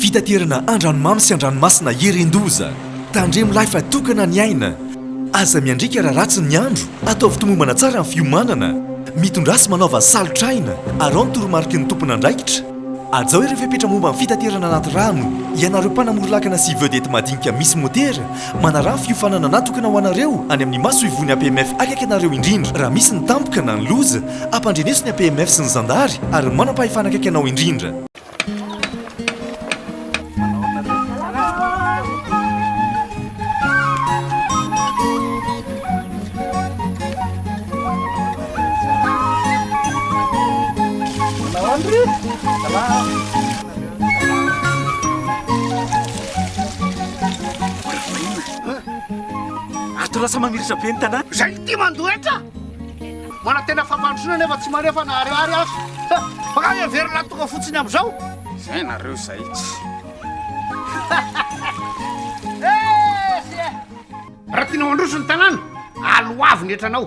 Fitaterana andranomamy sy andranomasina irin-doza. Tandremo lahy fa tokana ny aina. Aza miandriaka raha ratsy ny andro. Ataovy tomombana tsara ny fiomanana. Mitondrasy manaova salotr'aina. Araho ny toromariky ny tompon'andraikitra. Hajao ireo fepetra momba ny fitaterana anaty rano, ianareo mpanamory lakana sy vedette madinika misy motera, manaraha ny fiofanana natokana ho anareo any amin'ny masoivohon'ny APMF akaiky anareo indrindra raha misy ny tampoka na ny loza, ampandreneso ny APMF sy ny zandary ary ny manam-pahefana akaiky anao indrindra. lasa mamirisa be ny tanàna zay ty mandoetra manantena fampandrosoana nefa tsy manefa na ariary azo fa ka heverina tonga fotsiny am'izao Zay nareo zay tsy. Raha tianao handroso ny tanàna, aloavy ny hetranao.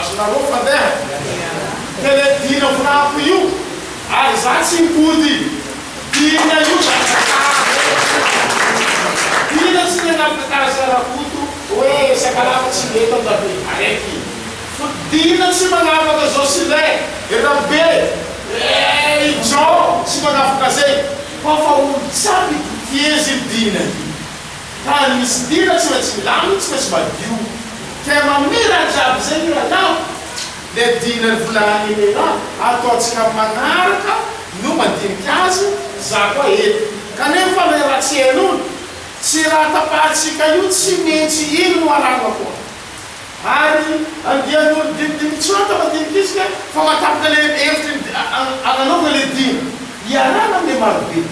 Azonareo fandeha? Tele dimy amby folo io ary za tsy mipody dimy anio Zarakoto Ina tsy nanapaka tany Zarakoto oe sakalava tsy mety am rabe araiky fo Dina tsy manapaka zao sy le rabe eh i Jean tsy manapaka zay koa fa olo tsy ampy Dina io. Tany misy ndira tsy maintsy milamina tsy maintsy madio Ka mamiratra aby zay ny rahalahy Le dina ny vola Agnelera ataontsika magnaraka no mandinika azy Za koa eto Kanefa le raha tsy henony Tsy raha tapahantsika io tsy mentsy iny no arahagna koa Ary andian'olo dinidinika tsy maty mandinika izy ka Fa mahatapaka le hevitry ny agnanaovagna le dina Iarahagna amle marobe.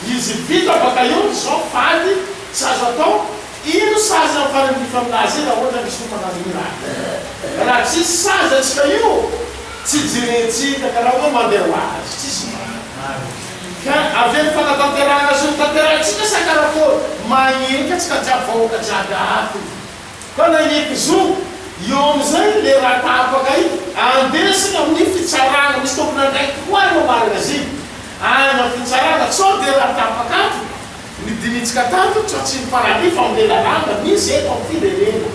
Izy vita baka eo ny zao fady tsy azo atao ino sazy am farany bifa aminazy e ra ohatra misy olona manao ira e ra tsisy sazy atsika io tsy jerentsika ka ra oe mande ho azy tsisy maro ka avelo fanatanterahana zony tanterahintsika sa karakôry magnenka tsika jiaby vahoaka jiaby ato. Fa nahieky zo eo amin'izay ilay ratahafaka iny, andesiny amin'ny fitsarana, misy tompon'andraikitra koa any ao magazine, any amin'ny fitsarana, sao dia ratahafaka ato ny dinintsika tato tsy atsimo faran'io fa amin'ilay lalàna misy eto amin'ny firenena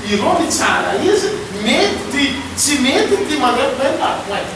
ireo mitsara izy mety ity, tsy mety ity, manentana eny la pointe.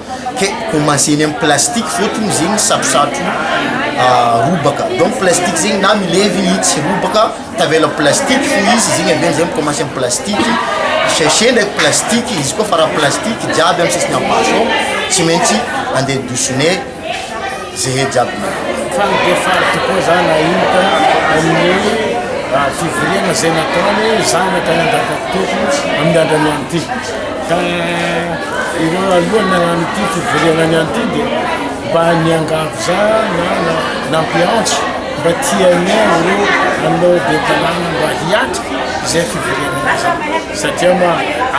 Ke commence eny am plastique fôtony izy igny satrosatro robaka donc plastique zegny na milevy i tsy robaka tavela am plastique fô izy izy igny amizay mi commence am plastique sachet ndraiky plastique izy koa fa raha plastique jiaby am sisiny am basy ao tsy maintsy ande douche ne. zehe jiaby ny. Fany dia faly tokoa za nahita an'i raha fivoriana izay nataony zanaka nandrapampitoko amin'ny andrany any ity ka ireo aloha nagnano ity fivoriana ny any ity dia mba niangavy za na na nampiantso mba tianay ireo anao be tanàna mba hiatrika izay fivoriana izay. Satria ma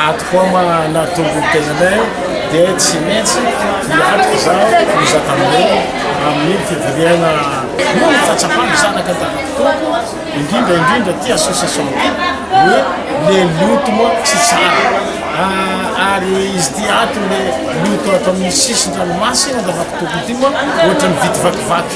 ato koa ma nahatonga ny tenanay dia tsy maintsy hiato izaho hizaka aminareo amin'ny fivoriana noho ny fahatsapana zanaka an-tanan-tompoko indrindra indrindra ity association ity hoe le loto moa tsy tsara ary izy ity ato le loto ato amin'ny sisin-dranomasy an-davantompoko ity moa ohatran'ny vitivakivaky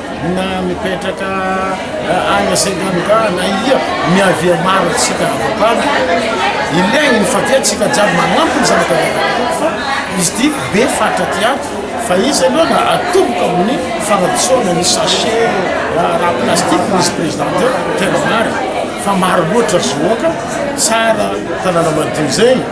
Na mipetraka any Sri Lanka na ia, miavia maro antsika ankoatrany. Ilainy ny fatiantsika jiaby manampy ny zanaka vavy fa izy ity be faritra aty ato fa izy aloha no atomboka amin'ny fanadisoana ny sachet raha plastique misy président teo, tena marina fa maro loatra zohoka tsara tanàna madio zegny.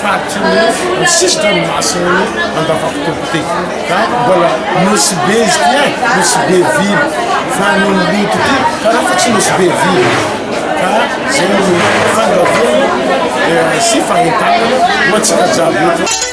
faritry ny ny sisi-dranomasin'ny Andavatokoto ity ka mbola Nosy be izy ity an, Nosy be vily fa ny Oloboto ity karaha fa tsy Nosy be vily ka zay no fandrahoana sy fahentanana ho antsika jiaby eto.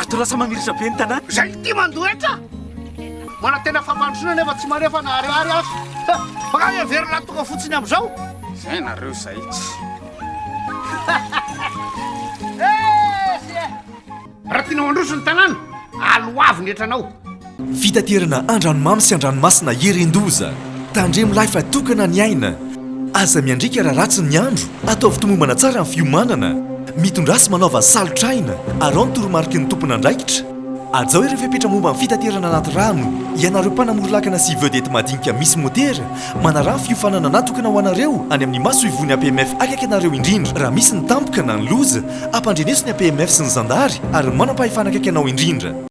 Ato lasa mamirisa be ny tanàna. Izay tia mandoa hetra. Manantena fampandrosoana nefa tsy maneho fa naharihary aza. Mankany heverina ny tonga fotsiny amin'izao. Izay nareo izay tsy. Raha tianao handroso ny tanàna, aloavy ny hetranao. Fitaterana andranomamy sy andranomasina hirin-doza. Tandremo lahy fa tokana ny aina. Aza miandriaka raha ratsy ny andro. Ataovy tomombana tsara ny fiomanana. Mitondrasy manaova salotr'aina. Araho ny toromariky ny tompon'andraikitra. Hajao ireo fepetra momba ny fitaterana anaty rano, ianareo mpanamory lakana sy vedette madinika misy motera, manaraha ny fiofanana natokana ho anareo any amin'ny masoivohon'ny APMF akaiky anareo indrindra, raha misy ny tampoka na ny loza, ampandreneso ny APMF sy ny zandary ary ny manam-pahefana akaiky anao indrindra.